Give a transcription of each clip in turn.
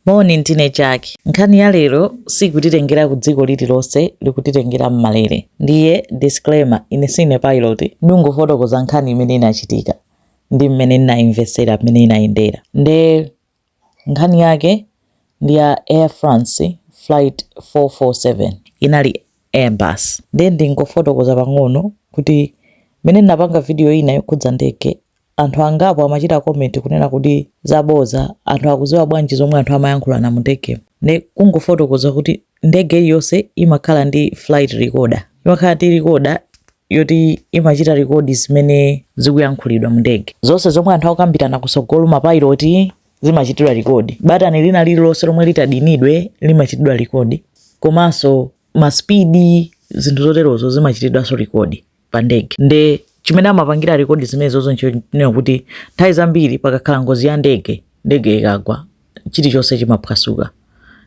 Moni, ndine Jack. Nkhani ya lero sikutitengera ku dziko lililonse, ikutitengera m'malere. Ndiye disclaimer, ine sine pilot. Ndingofotokoza nkhani imene inachitika ndi mmene ndinaimvetsera mmene inayendera. Nde nkhani yake ndi ya Air France flight 447. Inali Airbus. Nde ndingofotokoza pang'ono kuti mmene ndinapanga video ina yokhudza ndege, Anthu angapo amachita comment kunena kuti zabodza anthu akuziwa bwanji zomwe anthu amayankhulana mundege nde kungofotokoza kuti ndege iliyonse imakhala ndi flight recorder imakhala ndi recorder yoti imachita record zimene zikuyankhulidwa mundege zonse zomwe anthu akukambirana kusogolo mapayiloti zimachitidwa record batani lina lililonse lomwe litadinidwe limachitidwa record komanso maspidi zinthu zoterozo zimachitidwanso record pa ndege nde chimene amapangira rekodi zimenezozo nchonena kuti nthawi zambiri pakakhala ngozi ya ndege ndege ikagwa chilichonse chimaphwasuka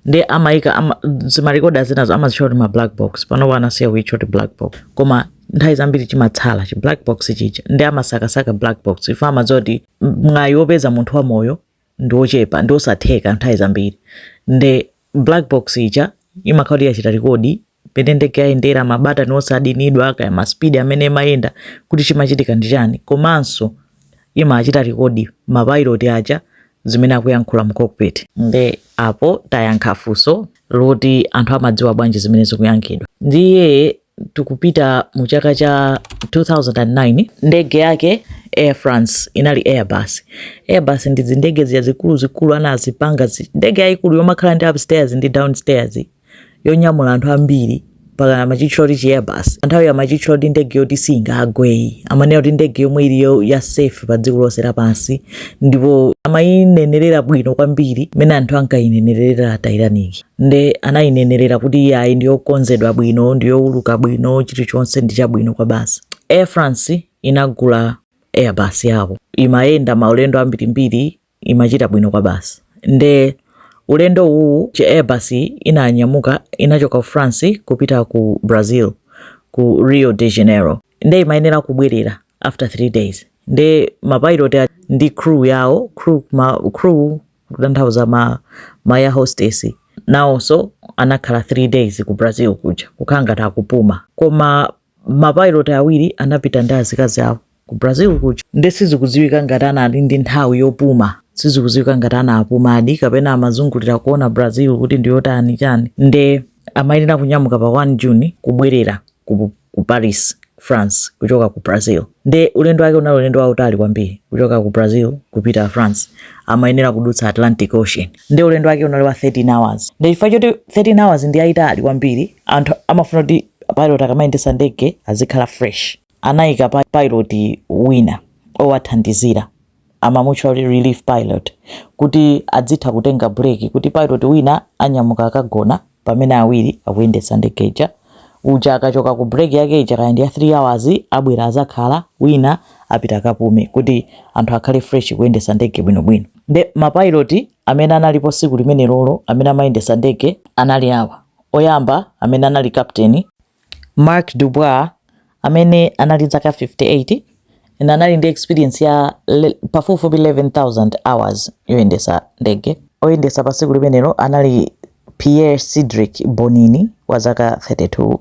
nde amayika ama, zimarekodidwa zinazo amazitchula kuti ma black box panopo anasiya kuitchula kuti black box koma nthawi zambiri chimatsala chi black box chija nde amasakasaka black box chifukwa amadziwa kuti mwayi wopeza munthu wamoyo ndi wochepa ndi wosatheka nthawi zambiri nde black box ija imakhala kuti yachita rekodi mmene ndege yayendera mabatani onse adinidwa kaya maspidi amene imayenda kuti chimachitika ndi chani komanso imachita rekodi mapayiloti aja zimene akuyankhula mu cockpit nde apo tayankha funso loti anthu amadziwa bwanji zimene zikuyankhulidwa ndiye tikupita mu chaka cha 2009 ndege yake Air France inali Airbus. Airbus ndi zindege zija zikuluzikulu anazipanga zi- ndege yayikulu yomakhala ndi upstairs ndi downstairs yonyamula anthu ambiri mpaka amachitchula kuti chi Airbus. Nthawi amachitchula kuti ndege yoti singagwe ayi amanena kuti ndege yomwe ili yo- ya safe pa dziko lonse lapansi ndipo amayinenerera bwino kwambiri mmene anthu ankayinenerera Titanic. nde anayinenerera kuti iyi ayi ndiyokonzedwa bwino ndiyowuluka bwino chilichonse ndi chabwino kwa basi air france inagula airbus yawo imayenda maulendo ambirimbiri imachita bwino kwabasi nde ulendo uwu chi airbus inanyamuka inachoka ku france kupita ku brazil ku rio de janeiro nde imayenera kubwerera after three days nde mapilot ndi crew yawo crew, ma, crew kutanthauza ma, ma air hostess nawonso anakhala 3 days ku brazil kuja kukhala ngati akupuma koma mapilot awiri anapita ndi azikazi awo ku brazil kuja nde sizikudziwika ngati anali ndi nthawi yopuma sizikudziwika ngati anapumadi kapena amazungulira kuona brazil kuti ndiyotani chani nde amayenera kunyamuka pa 1 june kubwerera ku ku Paris, France kuchoka ku Brazil. Nde ulendo wake unali ulendo wautali kwambiri kuchoka ku Brazil kupita France, amayenera kudutsa Atlantic Ocean. Nde ulendo wake unali wa 13 hours. Nde chifukwa choti 13 hours ndi yaitali kwambiri, anthu amafuna kuti pilot akamayendetsa ndege azikhala fresh. Amayika pilot wina owathandizira. amamutchula kuti relief pilot kuti adzitha kutenga break kuti pilot wina anyamuka kagona pamene awiri akuyendetsa ndege ija uja akachoka ku break yake ija kaya ndi ya 3 hours abwera azakhala wina apite akapume kuti anthu akhale fresh kuyendetsa ndege bwinobwino nde mapiloti amene analipo tsiku limenelolo amene amayendetsa ndege anali awa oyamba amene anali kapteni Marc Dubois, amene anali ndi zaka 58 and anali ndi experience ya pafupifupi 11,000 hours yoyendesa ndege, oyendesa pa tsiku limenelo anali Pierre Cedric Bonin wa zaka 32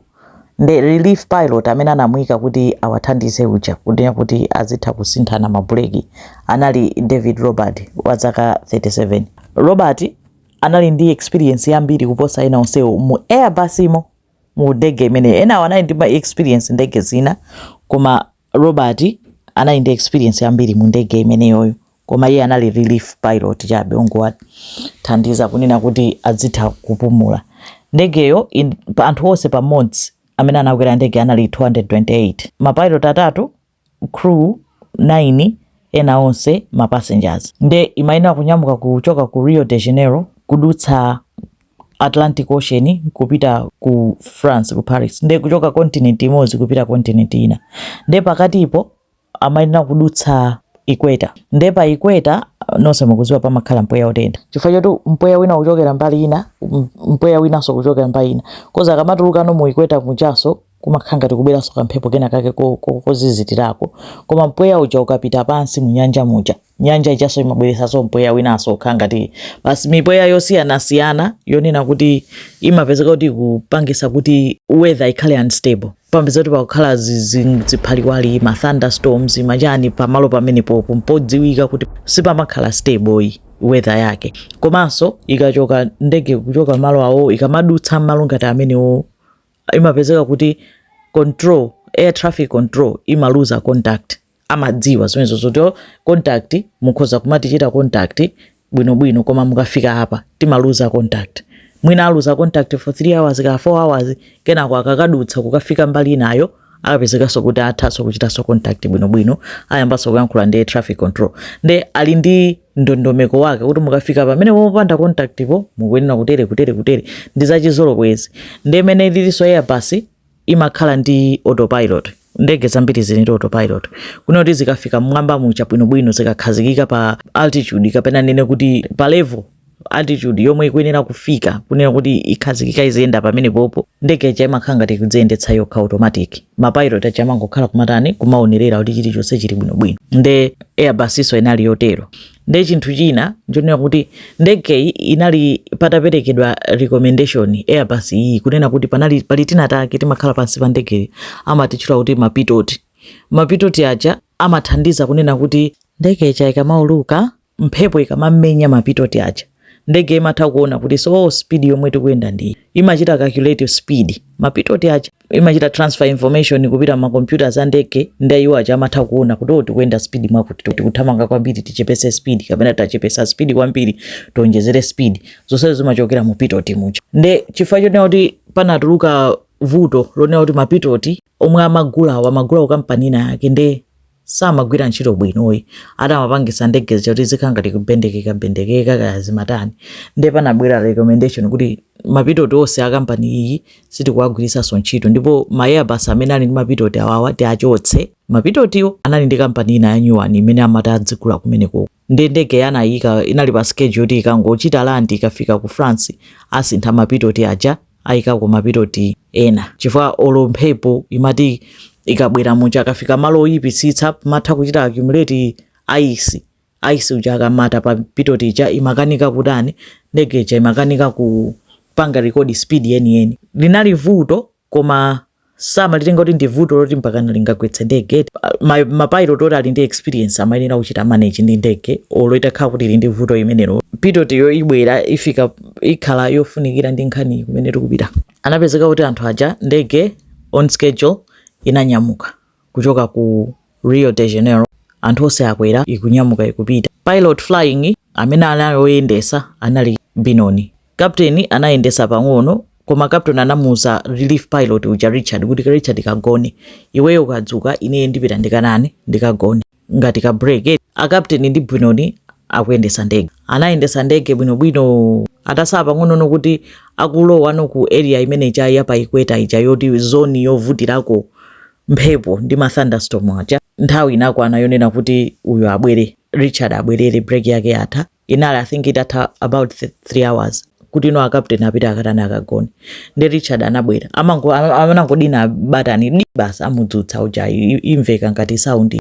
ndi relief pilot amene anamuika kuti awathandize uja kunena kuti azitha kusinthana ma buleki anali David Robert wa zaka 37. Robert anali ndi experience yambiri kuposa ena onsewo mu Airbus mo. mu ndege imeneyo enawo anali ndi experience ndege zina koma robert anali ndi experience yambiri mu ndege imeneyoyo koma iye anali relief pilot chabe ongowathandiza kunena kuti adzitha kupumula ndegeyo in- pa anthu onse pamodzi amene anakwera ndege anali 228 mapilot atatu crew 9 ena onse ma passengers nde imayenera kunyamuka kuchoka ku Rio de Janeiro kudutsa Atlantic Ocean kupita ku France ku Paris nde kuchoka continent imodzi kupita continent ina nde pakatipo amayenera kudutsa equator nde pa equator nonse mukuziwa pamakhala mpweya otentha chifukwa choti mpweya wina kuchokera mbali ina mpweya winanso kuchokera mbali ina kaya kamatulukano mu equator mujanso Kumakhala ngati kubweranso kamphepo kenakake kozizitirako. Koma mpweya uja ukapita pansi mu nyanja muja, nyanja ijanso imabweretsanso mpweya winanso wokhala ngati basi mipweya yosiyanasiyana yonena kuti imapezeka kuti ikupangisa kuti weather ikhale unstable. Pamapeza kuti pakukhala ziphaliwali, ma thunderstorms, machani pamalo pamenepopo mpodziwika kuti sipamakhala stable iyi weather yake. Komanso ikachoka ndege kuchoka malo awowo ikamadutsa mmalo ngati amenewowo imapezeka kuti control air traffic control imaluza contact amadziwa zimenezo zoti oh, contact mukhoza kumatichita contact bwinobwino koma mukafika apa timaluza contact mwina aluza contact for 3 hours ka 4 hours kenako akakadutsa kukafika mbali inayo akapezekanso kuti athanso kuchitanso contact bwinobwino ayambanso kuyankhula ndi traffic control nde ali ndi ndondomeko wake kuti mukafika pamene poopanda contact po mukuyenera kutere kutere kutere ndi zachizolowezi ndi imene lilinso airbus imakhala ndi autopilot ndege zambiri zili ndi autopilot kunena kuti zikafika mmwamba muja bwinobwino zikakhazikika pa altitude kapena nene kuti pa level altitude yomwe ikuyenera kufika kunena kuti ikhazikika iziyenda pamene popo ndege ija imakhala ngati ikudziyendetsa yokha automatic mapilot aja amangokhala kumatani kumaonerera kuti chilichonse chili bwinobwino nde airbus-nso inali yotero nde chinthu china nchonena kuti ndegeyi inali pataperekedwa recommendation airbus iyi kunena kuti panali pali tina take take timakhala pansi pa ndegeyi amatitchula kuti mapitoti mapitoti aja amathandiza kunena kuti ndege ija ikamauluka mphepo ikamamenya ma pitoti aja ndege imatha kuona kuti so oh, speed yomwe tikuyenda ndi imachita calculate speed ma pitoti aja imachita transfer information kupita m'ma computers a ndege ndi iwo aja amatha kuona kuti oh, tikuyenda speed mwakuti tikuthamanga kwambiri tichepese speed kapena tachepesa speed kwambiri tionjezere speed zonse zimachokera mu pitoti muja nde chifukwa chonena kuti panatuluka vuto lonena kuti mapitoti omwe amagulawo amagulawo kampani ina yake nde samagwira ntchito bwinoyi ati amapangisa ndege zija kuti zikhala ngati kubendekeka bendekeka kaya zimatani ndiye panabwera recommendation kuti mapitoti onse a kampani iyi sitikuwagwiritsanso ntchito ndipo ma airbus amene ali ndi mapitoti awawa tiachotse mapitotiwo anali ndi kampani ina ya nyuwani imene amati adzigula kumenekoko nde ndegeyi anayika inali pa schedule yoti ikangochita land ikafika ku France asintha mapitoti aja ayikako mapitoti ena chifukwa olo mphepo imati ikabwera muja akafika malo oyipitsitsa imatha kuchita accumulate ayisi ayisi uja akamata pa pitoti ija imakanika kutani ndege ija imakanika kupanga rekodi speed yeniyeni linali vuto koma samalitenga kuti ndi vuto loti mpakana lingagwetse ndege eti pa- ma- mapilot oti ali ndi experience amayenera kuchita manage ndi ndege olo itakhala kuti ili ndi vuto limenelo pitotiyo ibwera ifika ikhala yofunikira ndi nkhani kumene tikupita anapezeka kuti anthu aja ndege on schedule inanyamuka kuchoka ku Rio de Janeiro anthu onse akwera ikunyamuka ikupita pilot flying amene anali oyendesa anali Binoni kapteni anayendesa pang'ono koma kapteni anamuza relief pilot uja Richard kuti Richard kagone iweyo ukadzuka ineye ndipita ndikatani ndikagone ngati ka break eti a captain ndi Binoni akuyendesa ndege anayendesa ndege bwinobwino atatsala pang'onono kuti akulowano ku area imene ija ya pa ikweta ija yoti zoni yovutirako mphepo ndi ma thunderstorm aja nthawi inakwana yonena kuti uyu abwere richard abwerere break yake yatha inali i think itatha about th- three hours kuti ino akapteni apita akatani akagone nde richard anabwera amango- ama- amangodina batani di basi amudzutsa uja i- i- imveka ngati saundi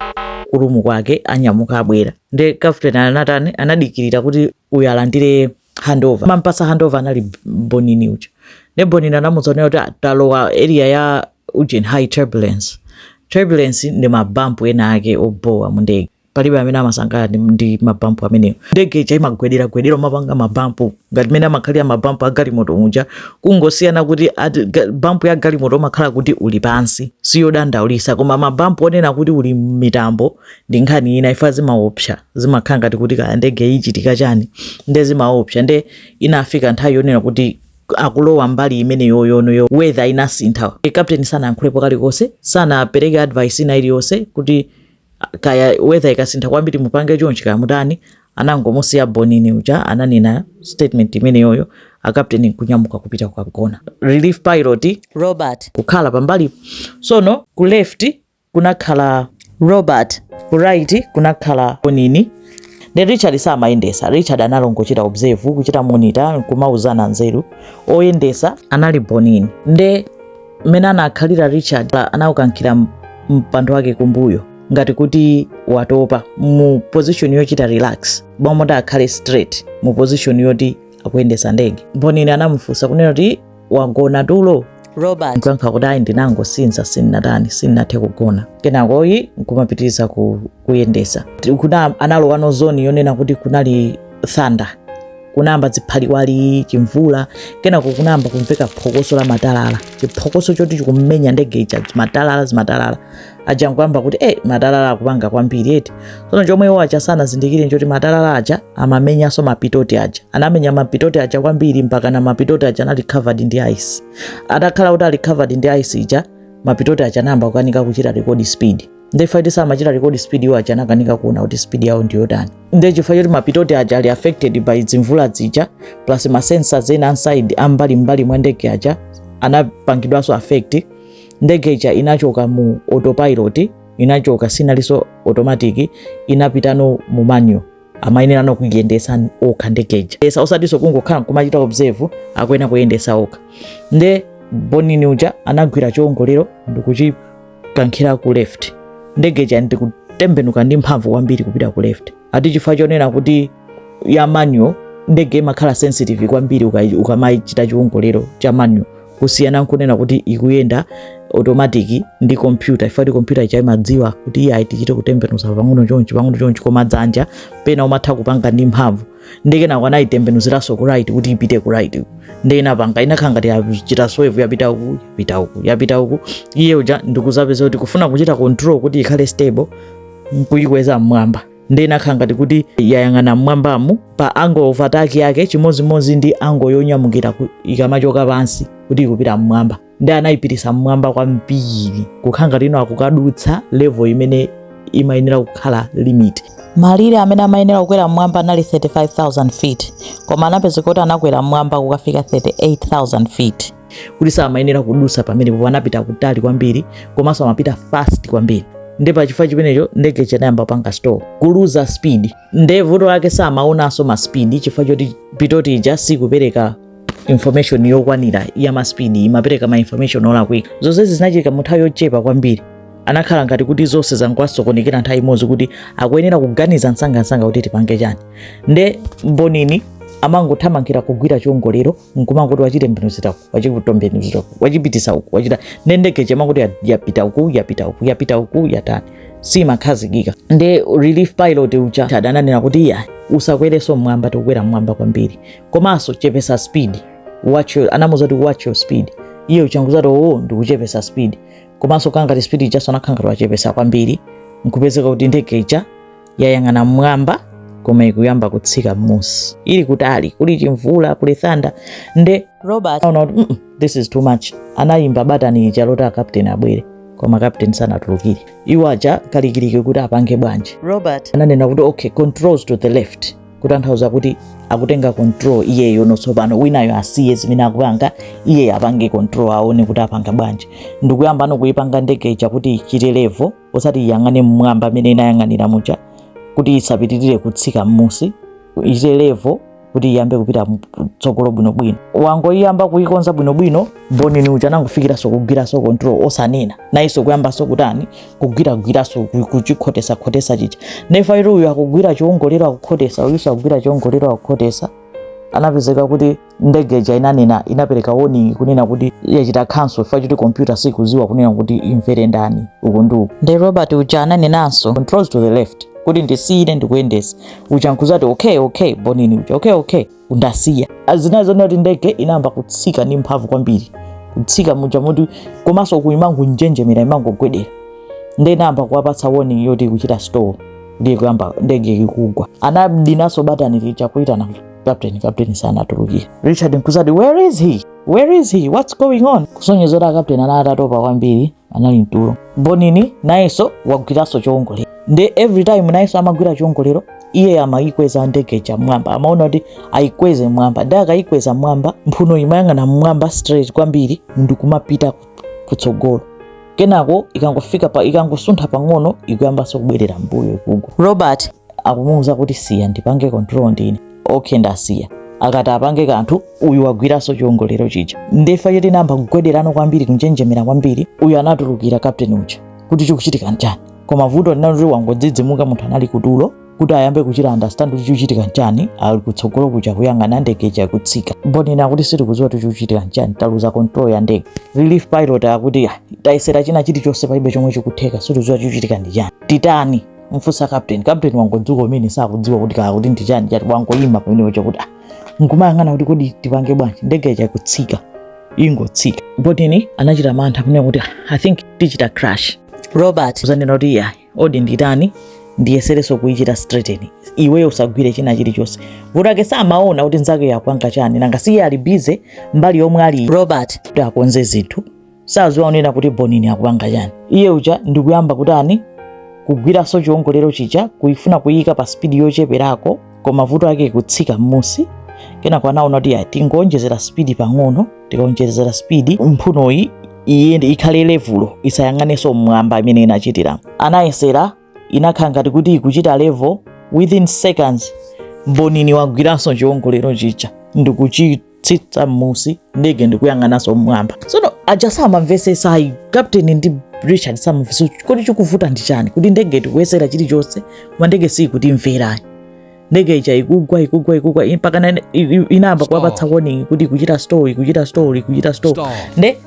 kurumu kwake anyamuka abwera nde kapteni anatani anadikirira kuti uyu alandire handover mampasa handover anali B- bonini uja nde bonini anamudziwitsa kuti "Ah, talowa area ya ujeni high turbulence turbulence ndi mabampu ena ake obowa a mu ndege palibe amene amasangalala ndi- ndi mabampu amenewo ndege ija imagwedera gwedera umapanga mabampu ngati mene amakhalira mabampu a galimoto muja kungosiyana kuti a- ga- bampu ya galimoto umakhala kuti uli pansi siyodandaulisa koma mabampu onena kuti uli mmitambo ndi nkhani ina ija zimaopsa zimakhala ngati kuti kaya ndege ichitika chani nde zimaopsa nde inafika nthawi yonena kuti akulowa mbali imene yoyo no weather inasintha e captain sanayankhulepo kalikonse sanapereke advice ina iliyonse kuti kaya weather ikasintha kwambiri mupange chonchi kaya mutani anangomusiya bonini uja ananena statement imeneyoyo akapteni nkunyamuka kupita kukagona relief pilot robert kukhala pambali sono ku left kunakhala robert ku right kunakhala bonini ne richard samayendesa richard anali ongochita observe kuchita monitor nkumauzana nzeru oyendesa anali bonini nde mmene anakhalira richard anaukankhira m- mpando wake kumbuyo ngati kuti watopa mu position yochita relax mmalo moti akhale straight mu position yoti akuyendesa ndege bonini anamufunsa kunena kuti wagona tulo robert nkuyankha kuti ayi ndinangosinza sindinatani sindinathe kugona kenakoyi nkumapitiriza ku kuyendesa kuna analowano zone yonena kuti kunali thunder kunayamba dziphaliwali chimvula kenako kunayamba kumveka phokoso la matalala chiphokoso choti chikumenya ndege ija zimatalala zimatalala aja nkuyamba kuti e matalala akupanga kwambiri eti tsono chomwe iwo aja sanazindikire nchoti matalala aja amamenyanso mapitoti aja anamenya mapitoti aja kwambiri mpakana mapitoti aja anali covered ndi ice atakhala kuti ali covered ndi ice ija mapitoti aja anayamba kukanika kuchita rekodi speed nde chifukwa choti samachita rekodi speed iwo aja anakanika kuona kuti speed yawo ndi yotani nde chifukwa choti mapitoti aja ali affected by dzimvula dzija plus ma sensors ena aside ambali mbali mwa ndege aja anapangidwanso affect ndege ija inachoka mu autopilot inachoka sinalinso automatic inapitano mu manual amayenera no kuyendesa okha ndegeja esa osatinso kungokhala kumachita observe akuyenera kuyendesa okha nde bonini uja anagwira chiongolero ndikuchikankhira ku left ndegeja ndikutembenuka ndi mphamvu kwambiri kupita ku left ati chifukwa chonena kuti ya manual ndege imakhala sensitive kwambiri uka- ukamachita chiongolero cha manual kusiyana nkunena kuti ikuyenda automatic ndi kompyuta ifo nkuti kompyuta ija imadziwa kuti iye ayi tichite kutembenuza pang'ono chonchi pang'ono chonchi koma dzanja pena umatha kupanga ndi mphamvu nde kenako anayitembenuziranso ku right kuti ipite ku right nde inapanga inakhala ngati yachita swerve yapita uku yapita uku yapita uku iye uja nkudzapezeka kuti kufuna kuchita control kuti ikhale stable nkuyikweza mmwamba nde inakhala ngati kuti yayang'ana mmwambamo pa angle of attack yake chimodzimodzi ndi angle yonyamukira ikamachoka pansi kuti ikupita mmwamba nde anayipitisa mmwamba kwambiri kukhala ngati kuti akukadutsa level imene imayenera kukhala limit malire amene amayenera kukwera mmwamba anali 35000 feet koma anapezeka kuti anakwera mmwamba kukafika 38000 feet kuti samayenera kudusa pamenepopo anapita kutali kwambiri komanso amapita fast kwambiri nde pa chifukwa chimenecho ndege ija inayamba kupanga stall kuluza speed nde vuto lake samaonanso ma speed chifukwa choti pitot ija sikupereka information yokwanira ya ma speed imapereka ma information olakwika zonsezi zinachitika mu nthawi yochepa kwambiri anakhala ngati kuti zonse zangowasokonekera nthawi imodzi kuti akuyenera kuganiza msangamsanga kuti tipange chani nde bonin amangothamangira kugwira chiongolero nkumangoti wachitembenuzira uku wachitembenuzira uku wachipitisa uku wachitani nde ndege ija imangoti yapita uku yapita uku yapita uku yatani siimakhazikika nde relief pilot uja ananena kuti iyayi usakwereso mmwamba tikukwera mmwamba kwambiri komanso chepesa speed watch your, anamuza kuti watch your speed iye uja nkuzati oo oh, ndikuchepesa speed komanso kangati speed ijaso anakhangati wachepesa kwambiri nkupezeka kuti ndege ija yayang'ana mmwamba koma ikuyamba kutsika mmusi ili kutali kuli chimvula kuli thunder nde robert anaona kuti mm -mm, this is too much anayimba batani lija loti akapteni abwere koma akapteni sanatulukire iwo aja kalikiliki kuti apange bwanji robert ananena kuti okay controls to the left kutanthauza kuti akutenga control iyeyo no tsopano winayo asiye zimene akupanga iyeyo apange control aone kuti apanga bwanji ndikuyamba no kuyipanga ndege ija kuti ichite level osati iyang'ane mmwamba mmene inayang'anira muja kuti isapitirire kutsika mmusi ichite level kuti iyambe kupita mtsogolo bwinobwino wangoyiyamba kuyikonza bwinobwino bonin uja anangofikiranso kugwiranso control osanena nayenso kuyambanso kutani kugwiragwiranso kuchikhotesakhotesa chija nde ifo nkuti uyu akugwira chiongolero akukhotesa uyuso akugwira chiongolero akukhotesa anapezeka kuti ndege ija inanena inapereka warning kunena kuti yachita cancel chifukwa choti kompyuta sikuziwa kunena kuti imvere ndani uku ndi uku nde robert uja ananenanso controls to the left kuti ndisiye ine ndikuyendesa uja nkuzati okay okay bonin uja okay okay ndasiya izi ndi zonena kuti ndege inayamba kutsika ndi mphamvu kwambiri kutsika muja moti komanso uku imangonjenjemera imangogwedera nde inayamba kuwapatsa warning yoti ikuchita stall ndiye kuyamba ndege ikugwa anadinanso batani lija kuitana kapteni kapteni asanatulukire richard nkuzati where is he where is he what's going on kusonyeza kuti akapteni anali atatopa kwambiri anali mtulo bonini nayenso wagwiranso chowongolera nde every time nayenso amagwira chowongolero iye amayikweza ndege ija mmwamba amaona kuti ayikweze mmwamba nde akayikweza mmwamba mphuno imayang'ana mmwamba straight kwambiri ndikumapita ku kutsogolo kenako ikangofika pa ikangosuntha pang'ono ikuyambanso kubwerera mmbuyo ikugwa robert akumuwuza kuti siya ndipange control ndine okay ndasiya akati apange kanthu uyu wagwiranso chiwongolero chija ndiye choti inayamba kugwederano kwambiri kunjenjemera kwambiri uyo anatulukira captain uja kuti chikuchitika nchani koma vuto linali kuti wangodzidzimuka munthu anali kutulo kuti ayambe kuchita understand kuti chikuchitika nchani ali kutsogolo kuja kuyang'ana ndege ija ikutsika mbonini kuti sitikudziwa kuti chikuchitika nchani taluza control ya ndege relief pilot akuti "Ah, tayesera china chilichonse palibe chomwe chikutheka sitikudziwa chikuchitika ndi chani titani mfunse captain captain wangodzuka kumene sakudziwa kuti kaya kuti ndi chani chati wangoyima pamenepo chakuti "Ah, nkumayang'ana kuti kodi tipange bwanji ndege ija ikutsika ingotsika mbonini anachita mantha pamene kuti "Ah, i think tichita crash robert kudzanena kuti iya kodi nditani ndiyesereso kuichita straighten iweyo usagwire china chilichonse vuto ake samaona kuti nzake akupanga chani nanga siye ali bize mbali yomwe ali robert kuti akonze zinthu saziwa kunena kuti bonini akupanga chani iye uja ndikuyamba kutani kugwiraso chiongolero chija kuifuna kuyika pa spidi yocheperako koma vuto ake kutsika mmusi kenako anaona kuti ayi tingonjezera spidi pang'ono tikaonjezera spidi mphunoyi ikhale levulo isayang'anenso mmwamba imene inachitira anayesera inakhala ngati kuti ikuchita level within seconds mbonini wagwiranso chiwongolero chija ndikuchitsitsa mmusi ndege ndikuyang'ananso mmwamba tsono aja samamvesesa ayi kapteni ndi richard samamvesesa kodi chikuvuta ndi chani kuti ndege tikuyesera chilichonse koma ndege siyikutimverayi ndege ija ikugwa ikugwa ikugwa i- mpaka nane- i- i- inayamba kuwapatsa warning kuti ikuchita stall ikuchita stall ikuchita stall nde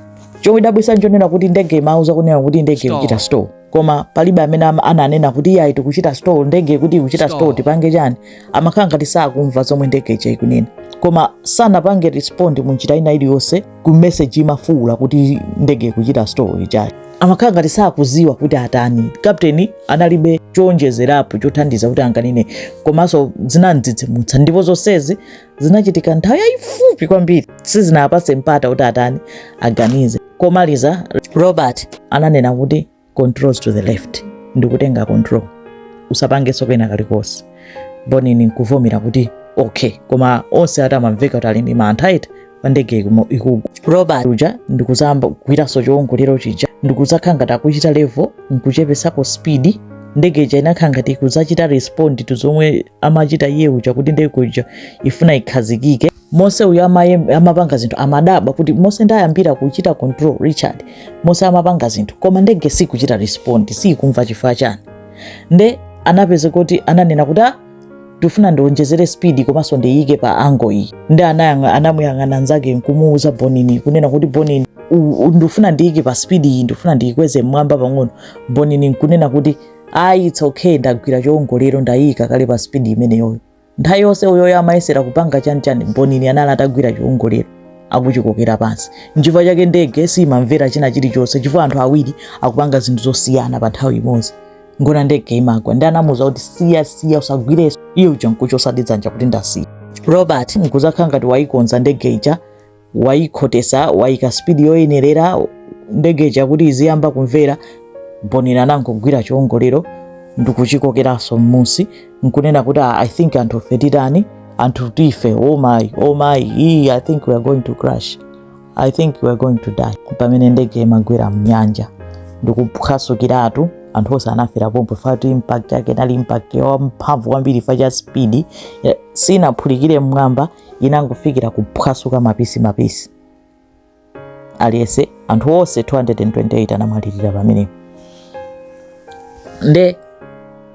chomwe chidadabwisa nchonena kuti ndege imauza kunena kuti ndege ikuchita stall koma palibe amene ama- ananena kuti iyayi tikuchita stall ndege ikuti ikuchita stall tipange chani amakhala ngati sakumva zomwe ndege ija ikunena koma sanapange respond mu njira ina iliyonse ku message imafuula kuti ndege ikuchita stall ija iwo amakhala ngati sakuziwa kuti atani kapteni analibe chowonjezerapo chothandiza kuti anganene ayi komanso zinamdzidzimutsa ndipo zonsezi zinachitika nthawi yayifupi kwambiri sizinapase mpata kuti atani aganize komaliza robert ananena kuti controls to the left ndikutenga control usapangenso kena kalikonse bonini nkuvomera kuti okay koma onse akuti amamveka kuti ali ndi mantha iti paja ndege ikugwa robert uja ndikuzayamba kugwiranso chiwongolero chija ndikuzakhala ngati akuchita level nkuchepesako speed ndege ija inakhala ngati ikuzachita respond to zomwe amachita iye uja kuti ndege ija ifuna ikhazikike monse uyu amaye- amapanga zinthu amadabwa kuti monse ndayambira kuchita control richard monse amapanga zinthu koma ndege sikuchita respond siyikumva chifukwa chani nde anapeza kuti ananena kuti "Ah, ndifuna ndionjezere speed komanso ndiyike pa angle iyi nde anayang'a- anamuyang'ana nzake nkumuuza bonini kunena kuti bonini u- u- ndifuna ndiyike pa speed iyi ndifuna ndiyikweze mmwamba pang'ono bonini nkunena kuti ayi it's okay ndagwira chongolero ndayika kale pa speed imeneyoyo nthawi yonse uyoyo amayesera kupanga chanichani bonini anali atagwira chiwongolero akuchikokera pansi nchifukwa chake ndege siyimamvera china chilichonse chifukwa anthu awiri akupanga zinthu zosiyana pa nthawi imodzi ngona ndege imagwa nde anamuuza kuti siya siya usagwireso iye uja nkuchosadi dzanja kuti ndasiya robert nkuzakhala ngati wayikonza ndege ija wayikhotesa wayika spidi yoyenerera ndege ija kuti iziyamba kumvera bonini anangogwira chiwongolero ndikuchikokeranso mmusi nkunena kuti "Ah, i think anthu fe titani anthu tife oh my oh my ii i think we are going to crash i think we are going to die pamene ndege imagwera mnyanja ndikuphwasukiratu anthu onse anafera pompo fatu impact yake inali impact yamphamvu kwambiri fa cha spidi sinaphulikire mmwamba inangofikira kuphwasuka mapisi mapisi aliyese anthu onse 228 anamwalirira pamenepo nde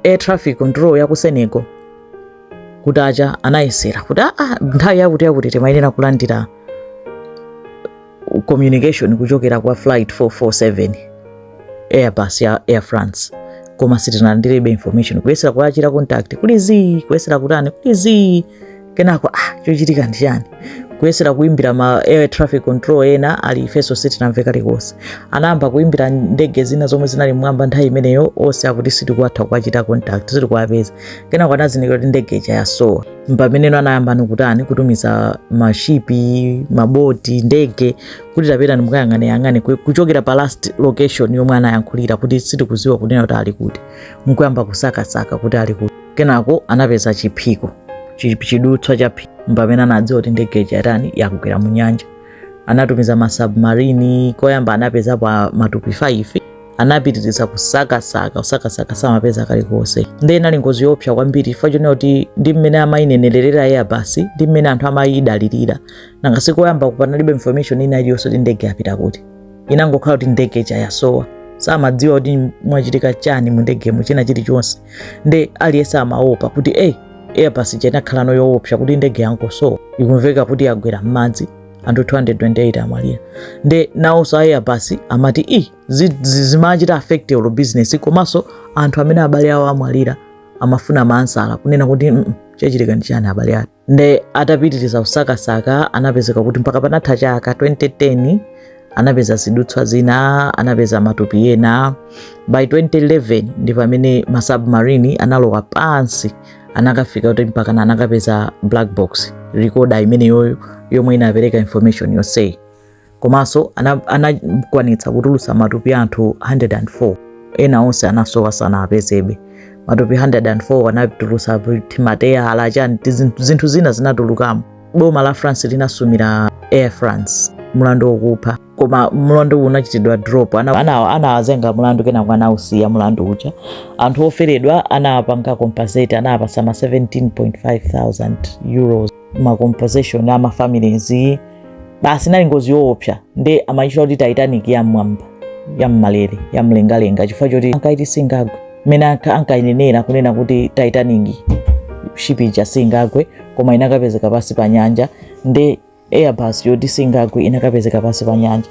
air traffic control ya ku senegal kuja ija anayesera kuti aa ah, ah, nthawi yakuti yakuti timayenera kulandira communication kuchokera kwa flight 447 airbus ya air france koma sitinalandirebe information kuyesera kuwachita contact kuli zii kuyesera kutani kuli zii kenako ah, chochitika ndi chani kuyesera kuimbira ma air traffic control ena ati ifeso sitinamve kalikonse anayamba kuimbira ndege zina zomwe zinali mmwamba nthawi imeneyo onse akuti sitikutha kuwachita contact sitikuwapeza kenako anazindikira kuti ndege ija yasowa mpameneno anayambano kutani kutumiza mashipi maboti ndege kuti tapitani mukayang'aneyang'ane kuchokera pa last location yomwe anayankhulira kuti sitikuziwa kunena kuti ali kuti mkuyamba kusakasaka kuti ali kuti kenako anapeza chiphiko chidutswa cha phiko mpamene anadziwa kuti ndege yatani yagwera mu nyanja anatumiza masubmarini koyamba anapezapo matupi 5 anapitiriza kusakasaka kusakasaka samapeza kalikonse nde inali ngozi yoopsa kwambiri chifukwa chonena kuti ndi mmene amayinenerera airbus ndi mmene anthu amayidalirira nanga si koyamba panalibe information ina iliyonse kuti ndege yapita kuti inangokhala kuti ndege chayasowa samadziwa kuti mwachitika chani mu ndegemo china chilichonse nde aliyense amaopa kuti eyi airbus chenakhala no yoopsa kuti ndege yangosowa ikumveka kuti yagwera m'madzi anthu 228 amwalira nde nawonso a airbus amati i zimachita affect your business komanso anthu amene abale awo amwalira amafuna maansala kunena kuti mm, chachitika ndi chani abale athu nde atapitiriza kusakasaka anapezeka kuti mpaka panatha chaka 2010 anapeza zidutswa zina anapeza matupi ena by 2011 ndi pamene masubmarine analowa pansi anakafika kuti mpaka anakapeza black box recorder imeneyoyo yomwe inapereka information yonseyi komanso anakwanitsa kutulutsa matupi anthu 104 ena onse anasowa sanapezedwe matupi 104 anatulutsa timateya alachani zinthu zina zinatulukamo boma la france linasumira air france mulandu wokupha koma mulandu uwu unachitidwa drop anawazenga mulandu kenako anausiya mulandu uja anthu oferedwa anawapanga compensate anawapatsa ma 17,500 euros ma compensation a ma families basi nali ngozi yoopsa nde amaitcha kuti titanic ya mmwamba ya mmalere ya mlengalenga chifukwa choti ankaiti singagwe mmene anka- ankainenera kunena kuti titanic ship ija singagwe koma inakapezeka pansi pa nyanja nde airbus yoti singagwe inakapezeka pansi pa nyanja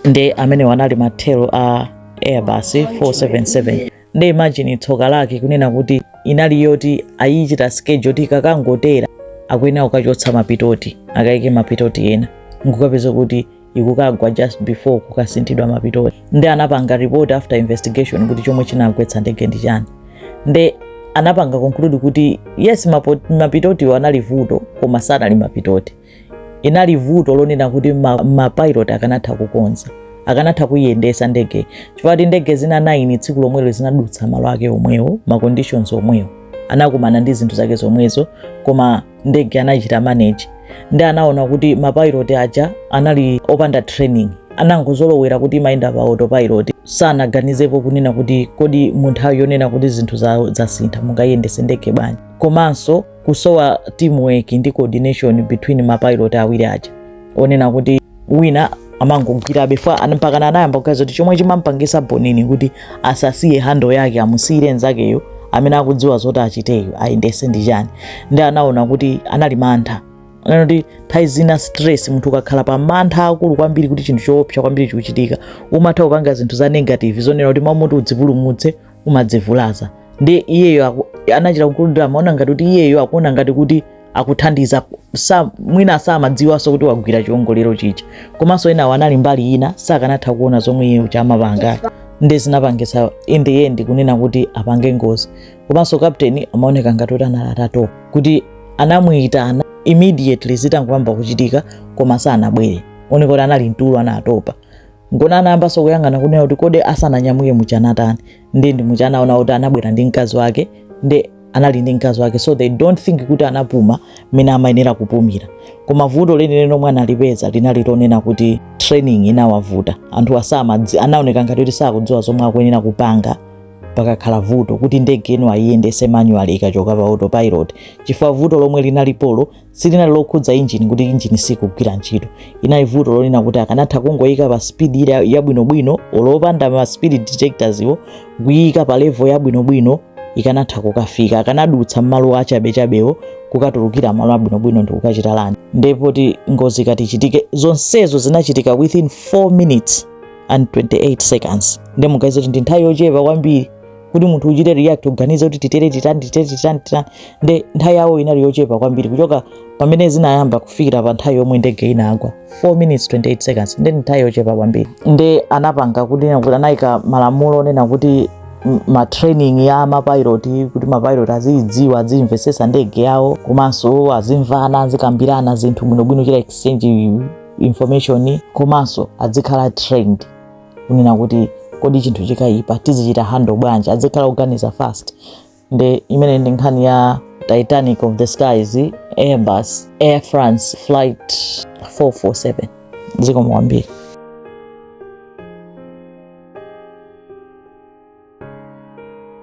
ndi amenewo anali mathero a airbus 477 nde imagine tsoka lake kunena kuti inali yoti ayichite schedule kuti kakangotera akuyenera kukachotsa mapitoti akayike mapitoti ena nkukapezeka kuti ikukagwa just before kukasinthidwa mapitoti nde anapanga report after investigation kuti chomwe chinagwetsa ndege ndi chani nde anapanga conclude kuti yes mapo- mapitotiwo anali vuto koma sanali mapitoti inali vuto lonena kuti mapilot akanatha kukonza akanatha kuyiyendetsa ndege chifukwa choti ndege zina 9 tsiku lomwelo zinadutsa malo ake omwewo ma conditions omwewo anakumana ndi zinthu zake zomwezo koma ndege anachita manage nde anaona kuti mapilot aja anali opanda training anangozolowera kuti amayenda pa autopilot sanaganizepo kunena kuti kodi munthawi yonena kuti zinthu zasintha mungayiyendetse ndege bwanji komanso kusowa teamwork ndi coordination between mapilot awiri aja onena kuti wina amangogwirabe ja an- mpakana anayamba kuganiza kuti chomwe chimampangisa bonini kuti asasiye handle yake amusiyire nzakeyo amene akudziwa zoti achiteyo ayendese ndi chani ndi anaona kuti anali mantha anena kuti nthawi zina stress munthu ukakhala pa mantha akulu kwambiri kuti chinthu choopsa kwambiri chikuchitika umatha kupanga zinthu za negative zonena kuti mwamuti udzipulumutse umadzivulaza ndi iyeyo aku- anachita kululutira amaona ngati kuti iyeyo akuona ngati kuti akuthandiza mwina samadziwanso kuti wagwira chiwongolero chija komanso enawo anali mbali ina sakanatha kuona zomwe iye uja amapanga ndi zinapangisa in the end kunena kuti apange ngozi komanso kapteni amaoneka ngati kuti anali atatopa kuti anamuyitana immediately zitangoyamba kuchitika koma sanabwere zoneka kuti anali mtulo anatopa Ngoona anayambanso kuyang'ana kunena kuti kodi asananyamuke muja anatani ndi ndi muja anaona kuti anabwera ndi mkazi wake ndi anali ndi mkazi wake so they don't think kuti anapuma mmene amayenera kupumira koma vuto lenileni lomwe analipeza linali lonena kuti training inawavuta anthu asamadzi anaoneka ngati kuti sakudziwa zomwe akuyenera kupanga pakakhala vuto kuti ndege ino ayiyendese manual ikachoka pa autopilot chifukwa vuto lomwe linalipolo silinali lokhudza injini kuti injini sikugwira ntchito linali vuto lonena kuti akanatha kungoyika pa speed ija yabwinobwino olopanda ma speed detectors iwo kuyika pa level yabwinobwino ikanatha kukafika akanadutsa mmalo achabechabewo kukatulukira malo abwinobwino ndi kukachita land popanda ngozi kuchitika zonsezo zinachitika within 4 minutes and 28 seconds ndi muganize kuti ndi nthawi yochepa kwambiri kuti munthu uchite react uganize kuti titere titani titere titani titani nde nthawi yawo inali yochepa kwambiri kuchoka pamene zinayamba kufikira pa nthawi yomwe ndege inagwa 4 minutes 28 seconds ndi nthawi yochepa kwambiri nde anapanga kuti kuti anayika malamulo onena kuti m- ma training ya mapilot kuti mapilot aziyidziwa aziyimvesesa ndege yawo komanso azimvana azikambirana zinthu bwinobwino chita exchange information komanso azikhala trained kunena kuti kodi chinthu chikayipa tizichita handle bwanji azikhala oganiza fast nde imeneyi ndi nkhani ya titanic of the skies airbus air france flight 447 zikomo kwambiri